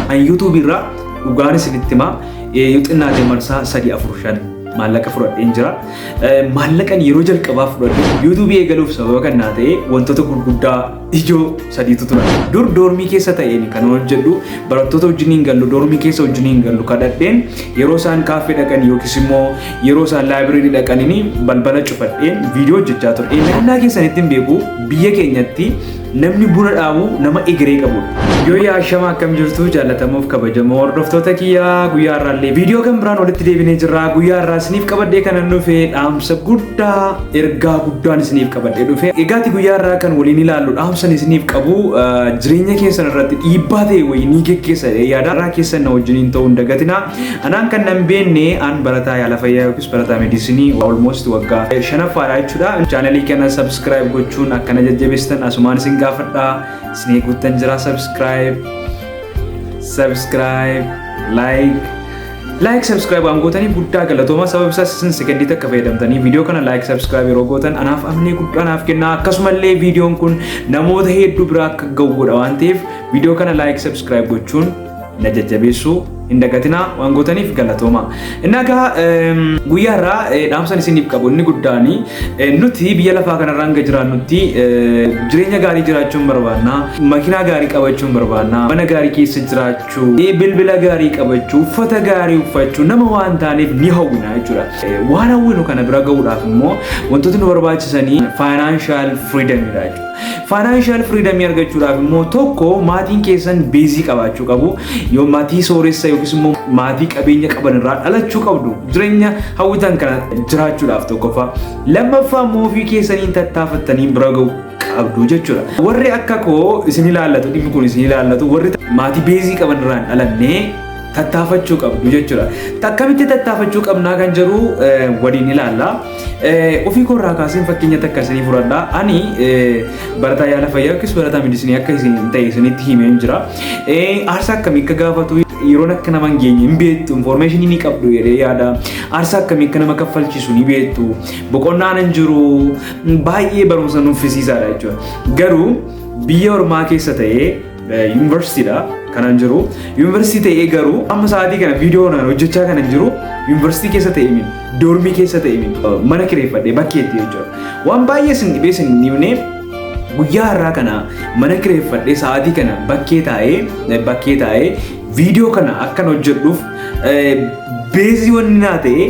An YouTube irraa dhugaan isinitti himaa eh, yoo xinnaate marsaa sadii afur shan maallaqa fudhadheen jira. Eh, Maallaqan yeroo jalqabaa fudhadhe YouTube eegaluuf sababa kan naa ta'e wantoota gurguddaa ijoo sadiitu tura. Dur doormii keessa ta'een kan hojjedhu barattoota wajjin hin gallu doormii keessa wajjin hin gallu kadhadheen yeroo isaan kaaffee dhaqan yookiis immoo yeroo isaan laayibireerii dhaqanini balbala cufadheen viidiyoo hojjechaa ture. Naannaa keessanitti hin beeku biyya keenyatti Namni buna dhaabu nama egeree qabudha. Yoo yaa shama akkam jirtu jaallatamuuf kabajamoo hordoftoota kiyyaa guyyaa irraallee viidiyoo kan biraan walitti deebinee jirra guyyaa irraa isiniif qabadhee kanan dhufe dhaamsa guddaa ergaa guddaan isiniif qabadhee dhufe egaati guyyaa irraa kan waliin ilaallu dhaamsan isiniif qabu jireenya keessan irratti dhiibbaa ta'e wayii ni geggeessa yaada irraa keessan na wajjiniin ta'uu hin dagatina anaan kan nan beenne an barataa yaala fayyaa Barataa Mediisinii waa almost waggaa shanaffaadha jechuudha. Chaanalii kana subscribe gochuun akkana jajjabeessitan asumaan isin gaafadha. Isin eeguuttan jira subscribe. Subscribe. Like. Like subscribe waan gootanii guddaa galatooma sababa isaas isin sekendiitti akka fayyadamtanii viidiyoo kana like subscribe yeroo gootan anaaf amnee guddaa naaf kenna akkasumallee viidiyoon kun namoota hedduu biraa akka ga'u godha waan ta'eef viidiyoo kana like subscribe gochuun na jajjabeessuu hin dagatinaa waan gootaniif galatooma. Innaa egaa eem, guyyaa irraa eh, dhaamsan isiniif qabu inni guddaan eh, nuti biyya lafaa kanarra hanga jiraannutti eh, jireenya gaarii jiraachuun barbaanna makiinaa gaarii qabachuun barbaanna mana gaarii keessa jiraachuu eh, bilbila gaarii qabachuu uffata gaarii uffachuu nama waan taaneef ni hawwina jechuudha. Eh, Waan hawwinu kana bira gahuudhaaf immoo wantoota nu barbaachisanii faayinaanshaal firiidamiidha jechuudha. Faayinaanshaal firiidamii argachuudhaaf immoo tokko maatiin keessan beezii qabaachuu qabu. Yoo maatii sooressa yookiis immoo maatii qabeenya qaban irraa dhalachuu qabdu. Jireenya hawwitan kana jiraachuudhaaf tokkoffaa. Lammaffaa immoo ofii keessaniin tattaafattanii bira ga'u qabdu jechuudha. Warri akka koo isin ilaallatu dhimmi kun isin ilaallatu warri maatii beezii qaban irraa hin dhalanne tattaafachuu qabdu jechuudha. Akkamitti tattaafachuu qabnaa kan jedhu waliin ilaalla. Ofii koo irraa kaaseen fakkeenya takka isinii fudhadha. Ani barataa yaala fayyaa yookiis barataa medisinii akka isin ta'e isinitti himee hin jira. Aarsaa akkamii akka gaafatu yeroon akka nama hin geenye hin beektu infoormeeshinii ni qabdu jedhee yaada. Aarsaa akkamii akka nama kaffalchiisu ni beektu. Boqonnaan hin jiru baay'ee barumsa nuffisiisaadha jechuudha. Garuu biyya ormaa keessa ta'ee Yuunivarsiitiidha kanan jiru. Yuunivarsiitii ta'ee garuu amma sa'aatii kana viidiyoo kanaan hojjechaa kanan jiru yuunivarsiitii keessa ta'e miti. Doormii keessa ta'e miti. Mana kireeffadhee bakkeetti jechuudha. Waan baay'ee sin dhibee sin dhibnee guyyaa har'aa kana mana kireeffadhee sa'aatii kana bakkee taa'ee bakkee taa'ee viidiyoo kana akkan hojjedhuuf beezii wanni naa ta'e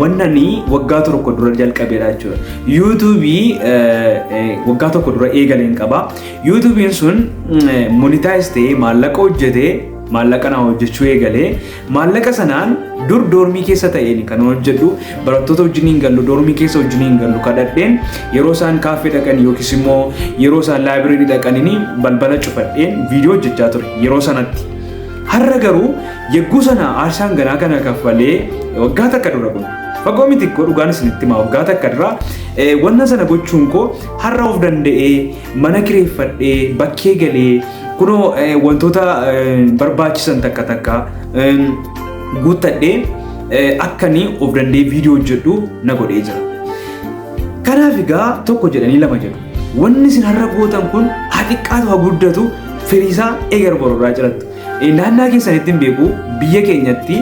wannani waggaa tokko dura jalqabeera jechuudha. Yuutuubii waggaa tokko dura eegaleen qaba. Yuutuubiin sun monitaayiz ta'ee maallaqa hojjetee maallaqa naa hojjechuu eegalee maallaqa sanaan dur doormii keessa ta'een kan hojjedhu barattoota wajjin hin gallu doormii keessa wajjin hin gallu kadhadheen yeroo isaan kaaffee dhaqan yookiis immoo yeroo isaan laayibireerii dhaqanini balbala cufadheen viidiyoo hojjechaa ture yeroo sanatti. Har'a garuu yegguu sana aarsaan ganaa kana kaffalee waggaa takka dura kun fagoo miti koo dhugaan isinitti himaa waggaa takka dura wanna sana gochuun koo har'a of danda'ee Mana kireeffadhee bakkee galee kunoo wantoota barbaachisan takka takka guuttadhee akkanii of dandee viidiyoo hojjedhu na godhee jira. Kanaaf egaa tokko jedhanii lama jedhu. Wanni isin har'a gootan kun haa xiqqaatu haa guddatu firiisaa eegar bororraa jirattu. Naannaa keessanitti hin beeku biyya keenyatti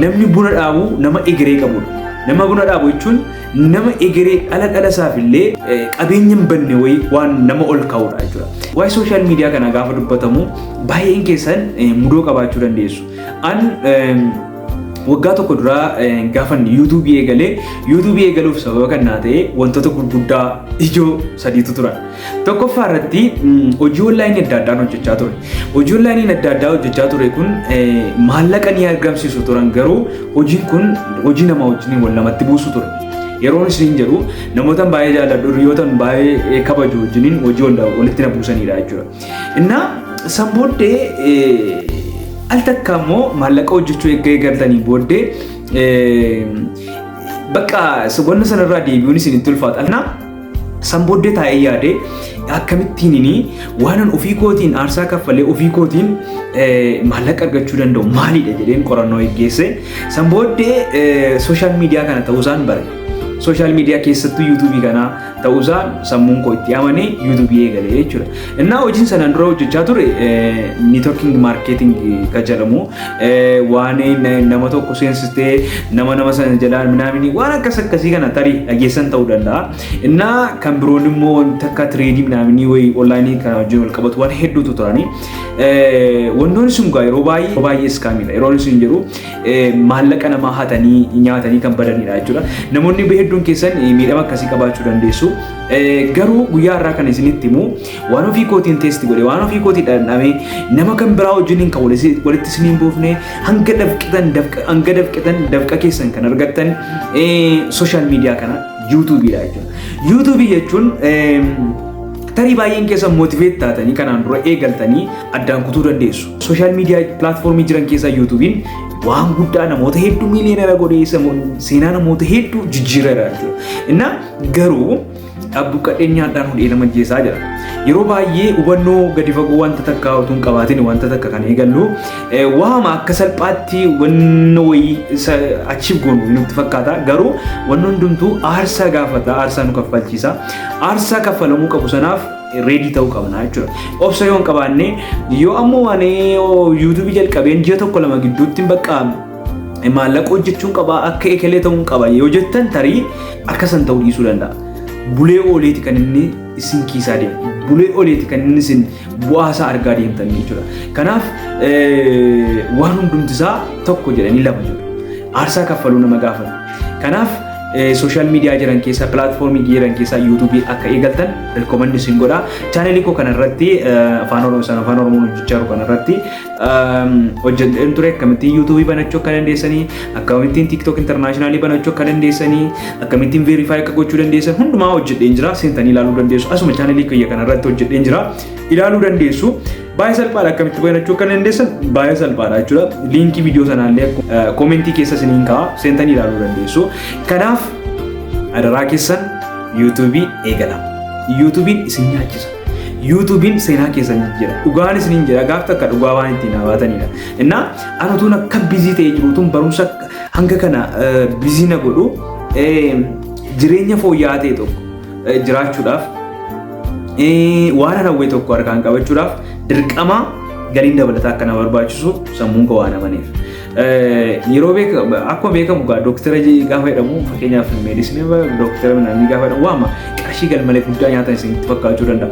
namni buna dhaabu nama egeree qabudha. Nama buna dhaabu jechuun nama egeree dhala dhala isaaf illee qabeenya hin banne wayii waan nama ol kaa'udha jechuudha. Waa'ee sooshaal miidiyaa kana gaafa dubbatamu baay'een keessan mudoo qabaachuu dandeessu. An waggaa tokko duraa gaafan yuutuubii eegalee yuutuubii eegaluuf sababa kan naa ta'e wantoota gurguddaa ijoo sadiitu turan. Tokkoffaa irratti hojii onlaayinii adda addaan hojjechaa ture. Hojii onlaayiniin adda addaa hojjechaa ture kun maallaqa ni argamsiisu turan garuu hojiin kun hojii namaa wajjin wal namatti buusu ture. Yeroon isin jedhu namoota baay'ee jaalladhu hiriyoota baay'ee kabaju wajjiniin hojii walitti na buusanidha jechuudha. Innaa san booddee al takka immoo maallaqa hojjechuu eegga eegaltanii booddee bakka wanna sanarraa deebi'uun isinitti ulfaata. San booddee taa'ee yaade akkamittiin inni waanan ofii kootiin aarsaa kaffalee ofii kootiin maallaqa argachuu danda'u maalidha jedheen qorannoo geggeesse. San booddee sooshaal miidiyaa kana ta'uusaan bare. Sooshaal miidiyaa keessattuu yuutuubii kana ta'uusaan sammuun koo itti amanee yuutuubii eegale jechuudha. Innaa hojiin sanaan dura hojjechaa ture networking marketing kan jedhamu waan nama tokko seensistee nama nama sana jalaa minaaminii waan akkas akkasii kana tarii dhageessan ta'uu danda'a. Innaa kan biroon immoo wanti akka tireedii minaaminii wayii onlaayinii kan wajjin wal qabatu waan hedduutu turani. Wantoonni sun gaa yeroo baay'ee yeroo baay'ee iskaamiidha. Yeroo inni sun jedhu maallaqa namaa hatanii nyaatanii kan badanidha jechuudha. Namoonni hedduun keessan miidhama akkasii qabaachuu dandeessu. Garuu guyyaa irraa kan isinitti himu waan ofii kootiin teesti godhe waan ofii kootii dhandhame nama kan biraa wajjiniin kan walitti isiniin buufne hanga dafqitan hanga dafqitan dafqa keessan kan argattan sooshaal miidiyaa kana yuutuubiidha jechuudha. Yuutuubii jechuun tarii baay'een keessa mootiveet taatanii kanaan dura eegaltanii addaan kutuu dandeessu. Sooshaal miidiyaa pilaatfoormii jiran keessaa yuutuubiin waan guddaa namoota hedduu miiliyoonera godhee seenaa namoota hedduu jijjiireera jechuudha. Garuu abbu qadheenyaadhaan hudhee nama jeesaa jira. Yeroo baay'ee hubannoo gadi fagoo wanta takkaa utuu hin qabaatin wanta takka kan eegallu waama akka salphaatti wanna wayii achiif goonu nutti fakkaata. Garuu wanni hundumtuu aarsaa gaafata, aarsaa nu kaffalchiisa. Aarsaa kaffalamuu qabu sanaaf reedii ta'uu qabna jechuudha. Obsa yoo hin qabaanne yoo ammoo waan yuutuubii jalqabeen ji'a tokko lama gidduutti bakka maallaqa hojjechuun qaba akka ekelee ta'uun qaba yoo jettan tarii akka san ta'uu dhiisuu danda'a. Bulee ooleeti kan inni isin kiisaa deemu. Bulee ooleeti kan inni isin bu'aa isaa argaa deemtan jechuudha. Kanaaf waan hundumti isaa tokko jedhanii lama jiru. Aarsaa kaffaluu nama gaafata. Kanaaf sooshaal miidiyaa jiran keessaa pilaatfoormii jiran keessaa yuutuubii akka eegaltan rikoomandi isin godha. Chaanelii koo kanarratti afaan oromoo afaan oromoo hojjechaa jiru kanarratti hojjedheen ture akkamittiin yuutuubii banachuu akka dandeessanii akkamittiin tiktok intarnaashinaali banachuu akka dandeessanii akkamittiin veerifaayi akka gochuu dandeessan hundumaa hojjedheen jira seentanii ilaaluu dandeessu asuma chaanalii kiyya kanarratti hojjedheen jira ilaaluu dandeessu baay'ee salphaadha akkamitti banachuu akka dandeessan baay'ee salphaadha jechuudha liinkii viidiyoo sanaallee koomentii keessa isiniin ka'a seentanii ilaaluu dandeessu kanaaf adaraa keessan yuutuubii eegala yuutuubiin isin nyaachisa yuutuubiin seenaa keessan jijjiira. Dhugaan isiniin jira gaaf takka dhugaa waan ittiin hawaatanidha. Innaa an utuun akka bizii ta'ee jiru utuun barumsa hanga kana bizii na godhu jireenya fooyya'aa ta'e tokko jiraachuudhaaf waan hawwee tokko harkaan qabachuudhaaf dirqama galiin dabalataa akka na barbaachisu sammuun koo waan amaneef. Yeroo beekamu akkuma beekamu egaa dooktara gaafa jedhamu fakkeenyaaf meedisinii dooktara midhaanii gaafa jedhamu waama qarshii galmalee guddaa nyaatan isinitti fakkaachuu danda'a.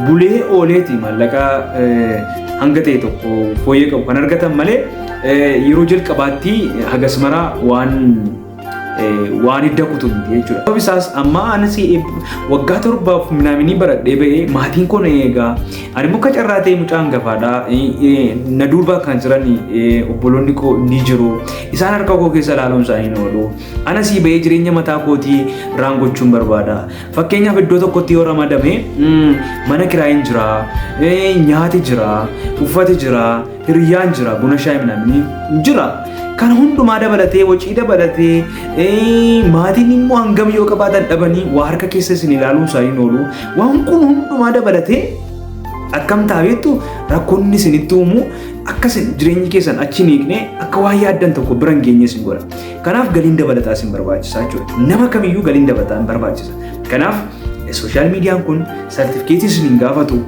Bulee ooleeti maallaqa hanga ta'e tokko fooyyee qabu kan argatan malee yeroo jalqabaatti hagas maraa waan waan hidda kutu miti jechuudha. Sababni isaas amma anis waggaa torbaaf minaaminii baradhee ba'ee maatiin koo na eegaa ani muka carraa ta'e mucaan gafaadha na duuba kan jiran obboloonni koo ni jiru isaan harka koo keessa ilaaluun isaanii na oolu anas ba'ee jireenya mataa kootii raan gochuun barbaada fakkeenyaaf iddoo tokkotti yoo ramadame mana kiraayin jira nyaati jira uffati jira Hiriyyaan jira buna shaayii namni jira. Kana hundumaa dabalatee wacii dabalatee ee, maatiin immoo hangam yoo qabaatan dhabanii waa harka keessa isin ilaaluun isaanii hin oolu. Waan kun hundumaa dabalatee akkam taabeettu rakkoonni isinitti uumu akka isin jireenyi keessan achi hin hiikne akka waan yaaddan tokko bira hin geenye isin godha. Kanaaf galiin dabalataa isin barbaachisa jechuudha. Nama kamiyyuu galiin dabalataa hin barbaachisa. Kanaaf sooshaal miidiyaan kun sartifikeetii isin hin gaafatu.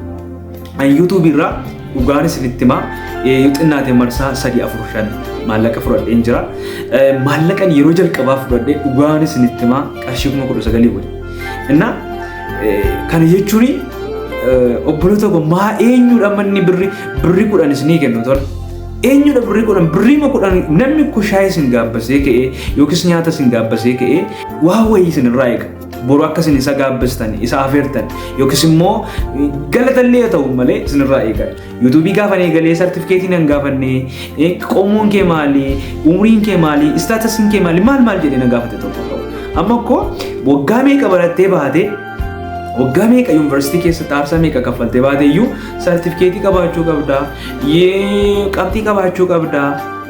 An YouTube irraa dhugaan isinitti himaa eh, yoo xinnaate marsaa sadii afur shan maallaqa fudhadheen jira. Eh, Maallaqan yeroo jalqabaa fudhadhe dhugaan isinitti himaa qarshii kuma kudha sagalii wali. Innaa eh, kana jechuun eh, obboloota koo maa eenyudha manni birri birri kudhan isinii kennu tola. Eenyudha birri kudhan birrii ma kudhan namni kushaa isin gaabbasee ka'ee yookiis nyaata isin gaabbasee ka'ee waa wayii isin irraa eega. Boru akka isin isa gaabbistan, isa afeertan yookiis immoo galatallee haa ta'u malee isinirraa eegan. Yuutuubii gaafan eegalee sartifikeetii nan gaafanne, qomoon kee maali, umriin kee maali, istaatasiin kee maali, maal maal jedhee na gaafate tokko ta'u. Amma koo waggaa meeqa barattee baatee waggaa meeqa yuunivarsiitii keessatti aarsaa meeqa kaffaltee baatee iyyuu sartifikeetii qabaachuu qabdaa, qabxii qabaachuu qabdaa.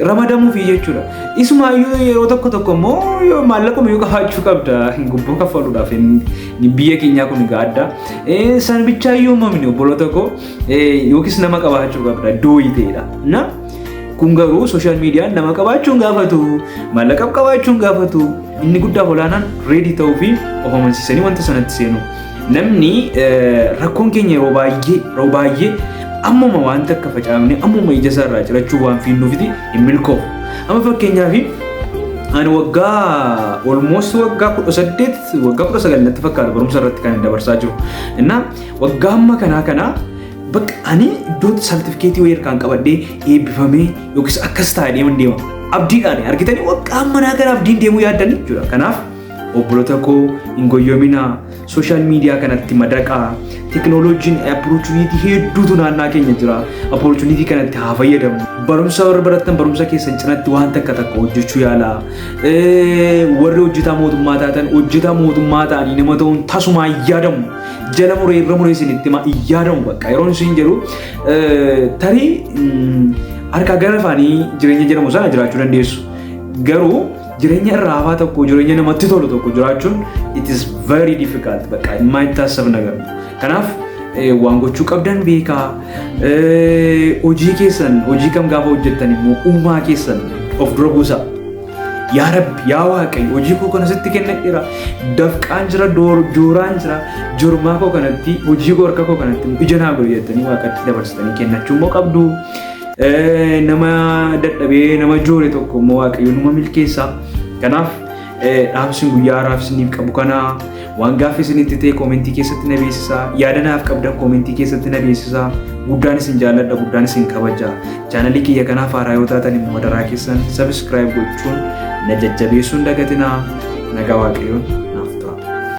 ramadamuufi jechuudha. Isuma iyyuu yeroo tokko tokko immoo yoo maallaquma yoo qabaachuu qabda gubboo kaffaluudhaaf hin- biyya keenyaa kun egaa adda. Eh, San bichaa iyyuu mamni obboloota koo eh, yookiis nama qabaachuu qabda dooyii ta'edha. Na kun garuu sooshaal miidiyaan nama qabaachuun gaafatu maallaqa qabaachuun gaafatu inni guddaa olaanaan reedii ta'uu fi of amansiisanii wanta sanatti seenuu. Namni rakkoon keenya yeroo baay'ee yeroo baay'ee ammuma waan takka facaafne ammuma ija isaa irraa cirachuu waan fiinnuufiti hin milkoofu. Amma fakkeenyaaf ani waggaa olmoos waggaa kudha saddeet waggaa kudha sagal natti fakkaata barumsa irratti kan dabarsaa jiru. Innaa waggaa amma kanaa kanaa bakka ani iddoo sartifikeetii wayii harkaan qabadhee eebbifamee yookiis akkas taa'ee deeman deema. Abdiidhaan argitanii waggaa manaa gara abdiin deemuu yaaddanii jechuudha. Kanaaf Obbolota koo hin goyyominaa sooshaal miidiyaa kanatti madaqaa teknooloojiin opportunity hedduutu naannaa keenya jira opportunity kanatti haa fayyadamu barumsa warra barattan barumsa keessan cinatti waan takka takka hojjechuu yaalaa warri hojjetaa mootummaa taatan hojjetaa mootummaa ta'anii nama ta'uun tasumaa hin yaadamu jala muree irra muree isin itti himaa hin yaadamu bakka yeroon isin jedhu tarii harkaa gara afaanii jireenya jedhamu sana jiraachuu dandeessu garuu Jireenya irra hafaa tokko jireenya namatti tolu tokko jiraachuun it is very difficult bakka dhimmaa itti taasisan agarra. Kanaaf eh, waan gochuu qabdan beekaa eh, hojii keessan hojii kam gaafa hojjettan immoo uumaa keessan of dura buusaa. Yaa Rabbi, yaa Waaqayyo, hojii koo kana sitti kennadheera. Dafqaan jira, door- jooraan jira. Jormaa koo kanatti, hojii koo harka koo kanatti ija naa godhi jettanii Waaqatti dabarsitanii kennachuu immoo qabdu. Eh, nama dadhabee nama joore tokko immoo waaqayyo numa milkeessa kanaaf eh, dhaamsin guyyaa haraaf isiniif qabu kana waan gaaffii isinitti ta'e koomentii keessatti na beeksisaa yaada naaf qabdan koomentii keessatti na beeksisaa guddaan isin jaalladha guddaan isin kabaja chaanalii kiyya kanaaf haaraa yoo taatan immoo madaraa keessan sabiskiraayib gochuun na jajjabeessuun dagatinaa nagaa waaqayyoon